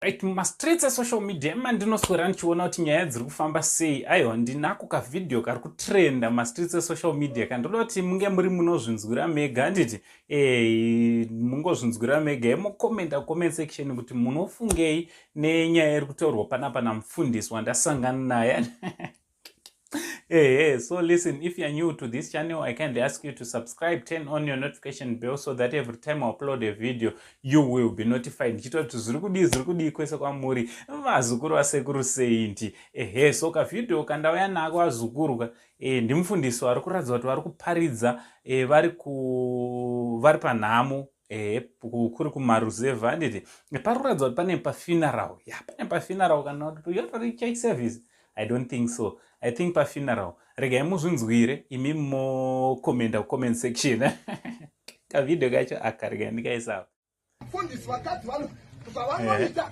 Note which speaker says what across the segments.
Speaker 1: Right, mumastreets esocial media emandinoswera ndichiona kuti nyaya dziri kufamba sei aiwa ndinako kavhidhiyo kari kutrenda mumastreets esocial media ka ndoda kuti munge muri munozvinzwira mega handiti e, mungozvinzwira mega emokomenta comment section kuti munofungei nenyaya iri kutaurwa panapa namufundisi wandasangana naye hey, hey, so listen if you're new to this channel i kindly ask you to subscribe turn on your notification bell so that every time i upload a video you will be notified ndichita kuti zviri kudii zviri kudii kwese kwamuri vazukuru vasekuru seinti ehe so kavideo kandauya nako vazukurwa e, ndimufundisi vari kuratidza kuti vari kuparidza e, vari ku vari panhamo ehe kuri kumaruzevha handiti paruratidza kuti pane pafuneral ya pane pafuneral kana kuti yatori church service i don't think so i think pafuneral regai muzvinzwire imi mokomenda kucomment section kavhidhio kacho aka regai ndikaisava mfundisi
Speaker 2: vakadzi vano zvavanoita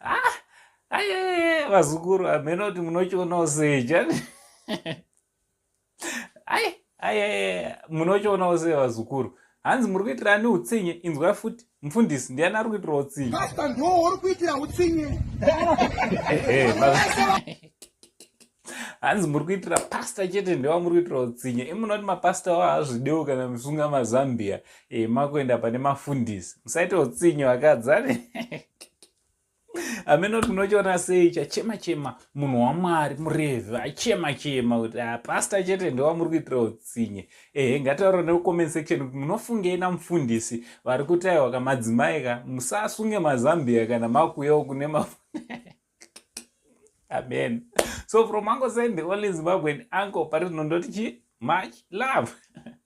Speaker 1: ah, aye vazukuru hameno kuti munochionawo sei chani aye aye munochionawo sei vazukuru hanzi muri kuitira ani utsinye inzwa futi mfundisi ndiani ari kuitira utsinye uri
Speaker 2: kuitira utsinye
Speaker 1: hanzi muri kuitira pasta chete ndewa muri kuitira utsinye imuna kuti mapasta wa hazvidewo kana musunga mazambia e, makuenda pane mafundisi musaita utsinye vakadzani amene kuti munochiona sei chachema chema munhu wamwari murevhi achema chema kuti ah, pasta chete ndewa muri kuitira utsinye ehe ngataura nekucomment section kuti munofungei namufundisi vari kutaiwa kamadzimai ka musasunge mazambia kana makuyawo kune mafundisi amen so from uncle said the only zimbabwean uncle pari zvinondoti chi much love